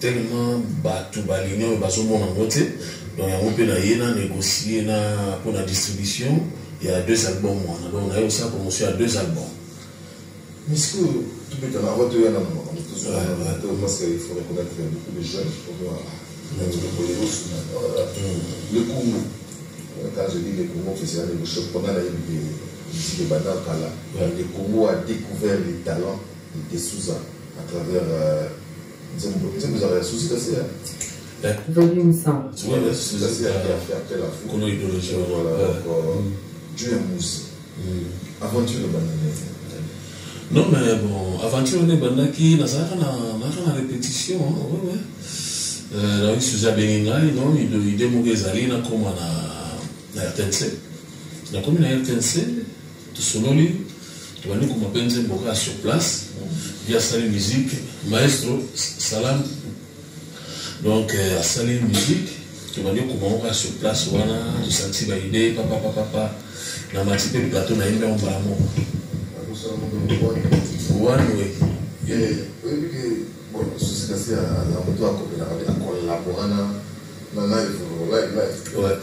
tellement batu ba l'union oyo bazomona yango te donc yango mpe naye na négocie na mpo na distribution ya deux album wana donc naye kosala promotion ya deux album misiki oyo tobetana avant toya na mama motozoto parce que il faut reconnaître beaucoup de jeunes pour moi le congo quand je dis le congo festival de choc mpona nayebi misiki ebanda kala le congo a découvert les talents de souza à travers euh, nzembo ezala ya susi kasi ya kono idologie juu ya musi aventure bananee non mais bon aventure wana ebandaki nazalaka nazalaka na répétition wewe nayoki susi abengi ngai non ide moko ezali nakoma na rtnc nakomi na rtnc tosololi tobandi koma mpe nzembo kaka sur place ye asali musique maestro salam donc euh, asali musique tobandi koma ngo kaka sur place wana tosanti baide papapapapa na mati mpe plateau na ye mpe mbala moko wanwe susi kasi aza moto akobelaka akolabora na na live live live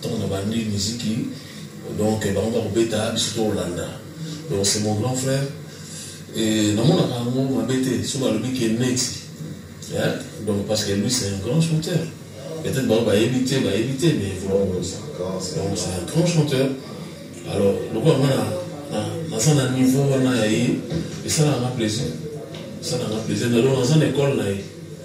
Tango na bandi miziki donc bango ba kobeta biso to kolanda donc c'est mon grand frère et na mona ka ngo mabe te so ba lobi ke neti hein donc parce que lui c'est un grand chanteur peut-être bango ba yebi te ba yebi te mais vraiment donc c'est un grand chanteur alors lokola nga na naza na niveau wana ya ye esalaka nga plaisir esalaka nga plaisir na donc naza na école na ye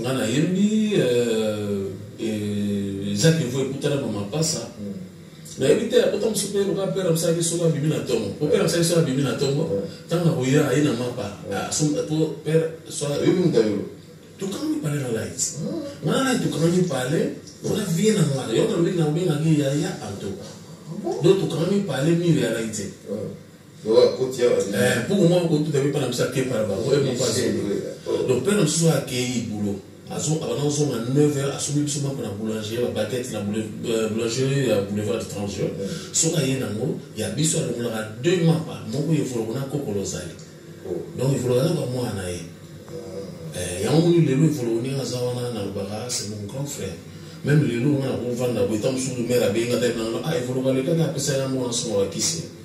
nga na yembi euh, euh, eza niveau ekutana ba mapasa nayebi te akota mosu mpe loka pere mosalaki soko abimi na ntongo mpo pere mosalaki soko abimi na ntongo ntango akoya aye na mapa po pere soyebi mutayo tukami pale na light nga na tukami pale wana vie na nga yo nalobeki na obengaki yaya antoka do tukami pale mire ya light mpuku mwa kotuta mpe mpana biso akepa na bango ye moko azongi donc mpana mosusu oyo akei bulo abanda kozonga 9 heure asombi biso mapa na boulanger babakete na euh, boulangerie ya boulevard du 30 juin soki aye nango ya biso alongolaka deux mapa moko evoloko na kokolo ozali oh. donc evoloko aza bamwana na ye ah. eh, yango moni lelo evoloko ndenge aza wana nalobaka c'est mon grand frère même lelo nga nakovanda boye ta mosusu mere abenga taye nango ah, evoloko alekaki apesaki yango wana songo bakisi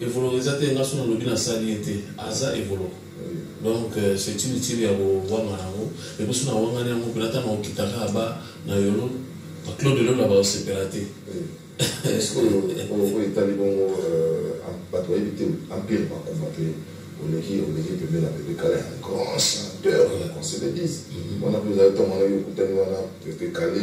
Evoloko eza te nga soki nalobi nasali ye te aza evoloko donc euh, c'est inutile ya kowanga yango epo soki nawangani yango mpena ata naokitaka aba na yolo baclaude lola baosepela te sikoyo oyo etali bongo bato bayebi te empire bakufa te oleki oleki pembeni ya pepe kale un grand chanteur na conseil de dise wana mpe ozali ntango wana yo okutani wana pepe kale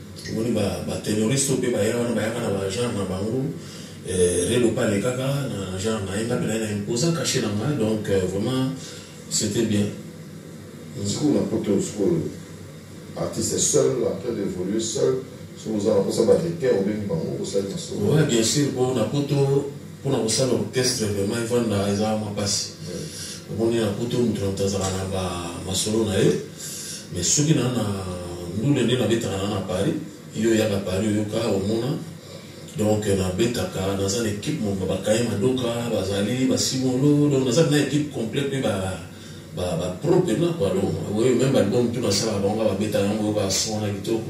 Omoni ba ba tenoriste pe baya wana bayaka na ba genre na bango eh, relo pa alekaka na genre na ye nga pe naye na imposa cache na nga donc euh, vraiment c'était bien mm. sikoyo na poto sikoyo artiste seul après d'évoluer seul soki oza na posa ba repère obengi bango osali masolo ouais bien sûr po na poto mpona kosala orchestre vraiment efanda eza mwa mpasi omoni na poto moto na moto azala na bamasolo na ye mais soki na na ndule nde nabetaka na na paris yo oyaka paris oyoka omona donc nabetaka naza na équipe moko bakaye madoka bazali basimolo donc naza na équipe complet mpe bapro mpena kua donc oyo meme album tu nasalaka bango babetaka yango oyoka son na kitoko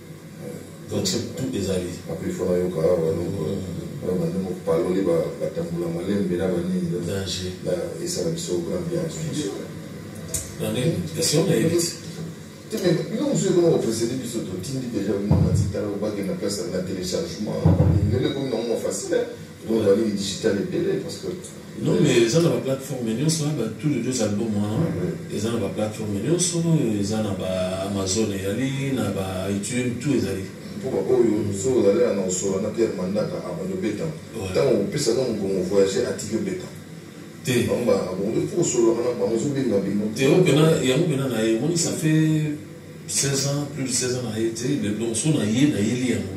donc c'est tout ezali après il faut na yoka ba longo ba bande mo paloli ba batambula malembe na banini danger la esa la biso grand bien dans les questions na yebisi teme bino mosusu ekoma kopresede biso totindi deja bino na titala obakenda place na téléchargement lelo ekomi na ngo facile Non, la ligne digitale est belle parce que. Non, mais ils ont la plateforme Nioso, hein, bah, tous les deux albums, hein, mm-hmm. ils ont la plateforme Nioso, ils ont la Amazon, ils ont la iTunes, tout ils allaient. mpo baoyo soki ozali ya na osola na pierre mandaka abandi obeta ntango opesa na mokongo voyage atiki obeta te bango bakongo fo osololaka na bango ozobenga bino te yango mpena na ye emoni ça fait 16 ans plus de 16 ans na ye te le donc so na ye na yeli yango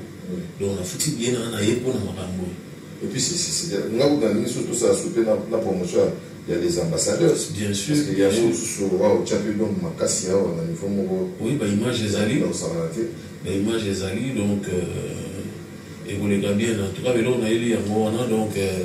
donc na futi bien na na ye mpo na makambo oyo Et puis, c'est, c'est, c'est, nga kuta ndenge surtout ça soupe na, na promotion ya les ambassadeurs bien sûr parce que bien yango sûr mosusu owa otyaki donc makasi awa na niveau moko oui ba image ezali na kosangana te ba image ezali donc euh, ekoleka bien en tout cas lelo nayeli yango wana donc euh,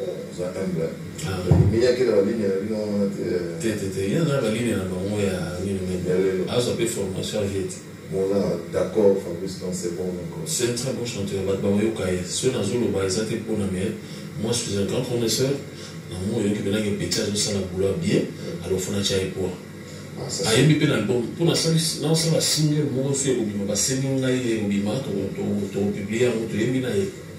oza humble omiyaki na baline na bino wana te te te te ye aza baline na bango ya nini meme azwa mpe formation vie te moza d'accord fabrice donc c'est bon donc c'est un très bon chanteur bato bakoyoka ye soki nazoloba eza te mpona mais moi je suis un grand connaisseur na moi oyoki mpenaki petit azosala boula bien alofona tya ye poa ayebi mpe na album mpo nasala single moko soki ekobima basengi ngai ye ekobima tokopiblie yango toyebi na ye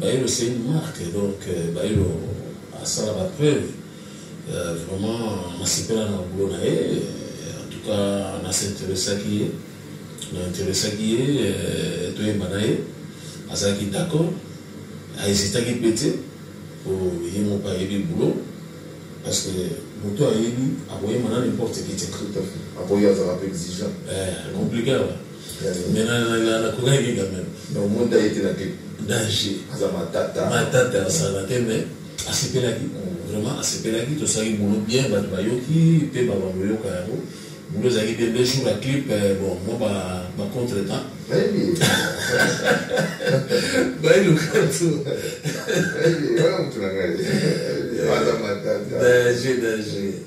Bayilo c'est une marque donc Bayilo asala ba preuve vraiment nasepela na boulot na ye en tout cas na s'interessaki ye na interessaki ye euh, toyemba na ye azalaki d'accord ahesitaki mpe te po ye moko ayebi boulot parce que moto ayebi akoyemba na n'importe qui te akoya azalaka mpe exigeant eh, compliqué mais na na na na kuna yinga même non mon da yete na te danger aza matata matata asala te mais asepelaki vraiment asepelaki tosalaki bono bien bato bayoki mpe babamoyoka yango bono ezalaki bien deux jours ya clip eh, bon mo bacontre temps bayiluka tu danger danger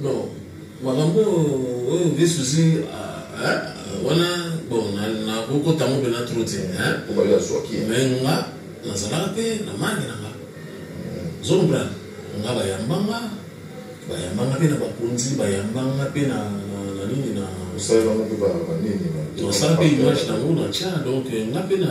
non makambo oyo nde susi wana bon nakokota ngo mpena tro te me nga nazalaka mpe na mangi na nga zombra nga bayambanga bayambanga mpe na bakonzi bayambanga mpe na nini na osala mpe image nango na tya donc nga mpe na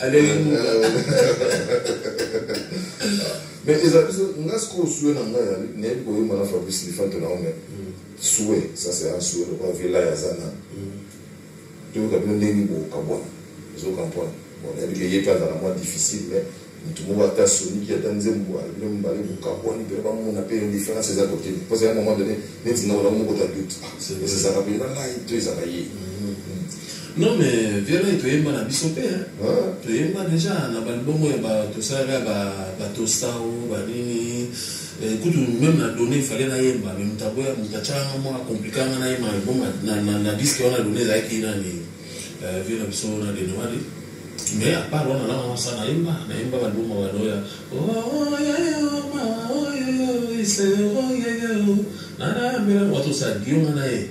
alelimuka mais eza biso nga sikoyo sue na ngai nayebi koyemba na fabrice lifanto na ome sue ça c'est un sue lokola villa ya zana toyoka bino ndenge bokabwana ezokampwana bon nayebi ke ye mpe azala mwa difficile mais motu moko ata soniki ata nzembo bino mibale bokabwani mpe bamona mpe différence eza kote mposa ya moment donné neti nga olako moko ta doute ah, esezaka mpenza ngai to ezaka ye mm-hmm. Non mais violent toyemba na biso pe hein. Ah. Toyemba déjà na ba bongo ya ba tosala ba ba tostao ba nini. Eh, kutu même na donné fallait na yemba mais mutabo ya mutachanga mwa compliqué nga na yemba bon na na na disque wana donné la ki na ni eh, vieux na biso na de noali. Mais à part wana na wana sana yemba na yemba ba bongo ba doya. Oh oh ya ya ma oh ya ya se oh ya ya. Na na mbela watu sa dioma na ye.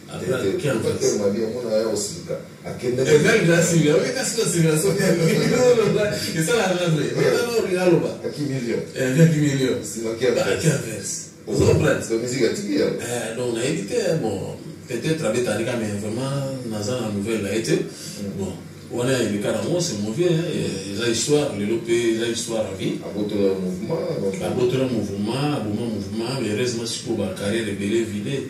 peut-être abetalika mais vraiment naza na nouvelle na ye te bon wana eleka nango c'est mauvais eza histoire lelo mpe eza histoire ya vie abotola mouvement aboma mouvement mais heureusement sikoyo bacarrière ebele vide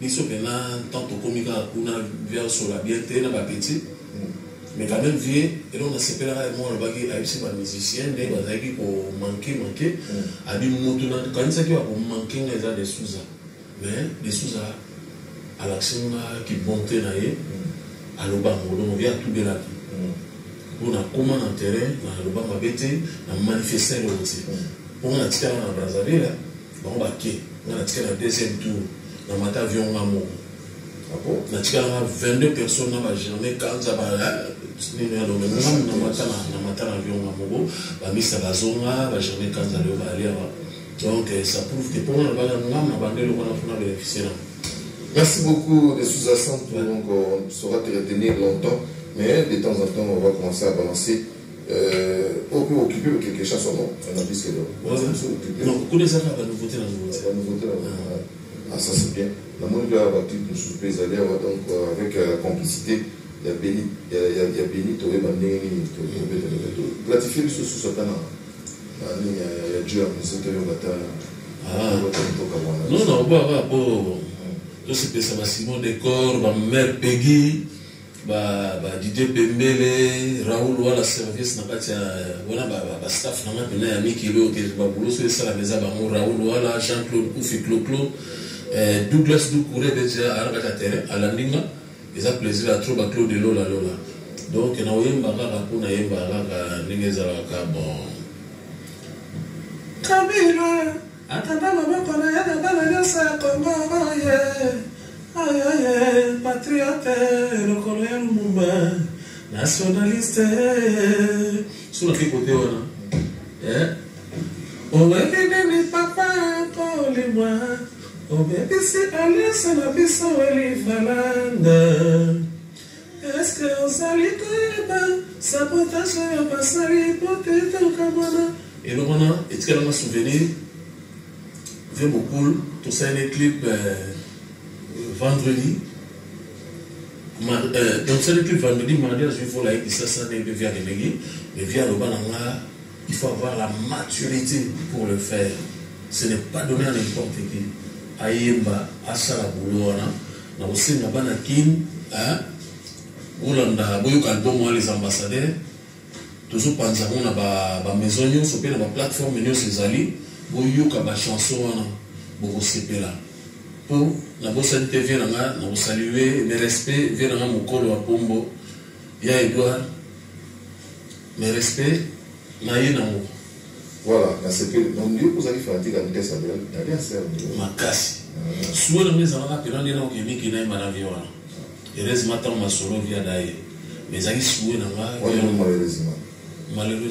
Biso pena tant tokomi kaka kuna vie azosola bien te na ba petit mais quand même vie eloko nasepelaka ya moko alobaki ayebisi ba musicien nde bazalaki ko manke manke abi moto nakanisaki bakomanke nga eza de souza mais de souza alakisi nga kibonte na ye aloba yango donc vie atubelaki mpo nakoma na terrain naloba mabe te na manifeste eloko te mpo nga natikala na brazzaville bango bake nga na tika na deuxième tour na mata avion nga moko apo ah na tika na 22 personnes na ba germain kanza ba nini ya lobe nga na mata na mata na avion nga moko ba misa bazonga ba germain kanza leo ba aliaba donc euh, ça prouve que pour na bana nga na bande le wana fona bénéficier na Merci beaucoup de sous donc on saura te retenir longtemps, mais de temps en temps on va commencer à balancer Euh, oyo mpe okipe le quelque chose somo na biske do kuna eza kaka banouveauté na nouveauté ah ça c'est bien namoni mpe awa baclipe mosusu mpe ezali awa donc euh, avec euh, la complicité ya beni ya beni toyeba ndenge nini toplatifie biso susu ata na nini ya jeu ya musée toyoka ata toka wana non na oboaka po tosepesa basimon decor bamare pegi ba ba Didier Pembele Raoul wala service na kati ya wana ba, ba, ba staff na ngai pena ya mikili oyo ke babulo so esalaka eza bango Raoul wala Jean Claude Kufi Cloclo eh, Douglas Doucoure deja aza na kati ya terrain alandi nga eza plaisir ya trop ba Claude Lola Lola donc na oyemba kaka mpo nayemba kaka ndenge ezalaka bon Kabila Atanda loboko na ye na bana nyonso ya Congo oye ayoye patriote lokolo ya Lumumba nationaliste suna mpe kote wana eh? owebi nini papa kolimwa obebisi alianse na biso elivalanda Est-ce que ozali koyeba sabotage oyo basali mpo te tokamwana? Eloko wana etikala nga souvenir. Vieux Bokul, tosaleli clip euh, vendredi. Ma, euh, donc tosaleli clip vendredi, mardi azwi vola ye kisasa nde mpe via akendeki. Mais via aloba na nga Il faut avoir la maturite pour le faire ce n'est pas donner à n'importe qui ayemba asala boulot wana na kosenga bana kin hein bolanda boyoka album wana les ambassadeurs tozopanza yango na bamaison nyonso mpe na baplateforme nyonso ezali boyoka bachanson wana bokosepela mpo nabosani te vie na nga na kosalue ne respect vie na nga mokolo ya pombo ya edouard Mes respects na ye nango. Voilà, na sepeli. Donc yo ozali fanatique ya Vitesse Abel, dali ya sœur. Makasi. Ah. Suwe na meza na pena ndena ko kemi kena ma na vie wana. Heureusement tant ma solo via daye. Mais ezali suwe na nga. Wana malheureusement. Malheureusement.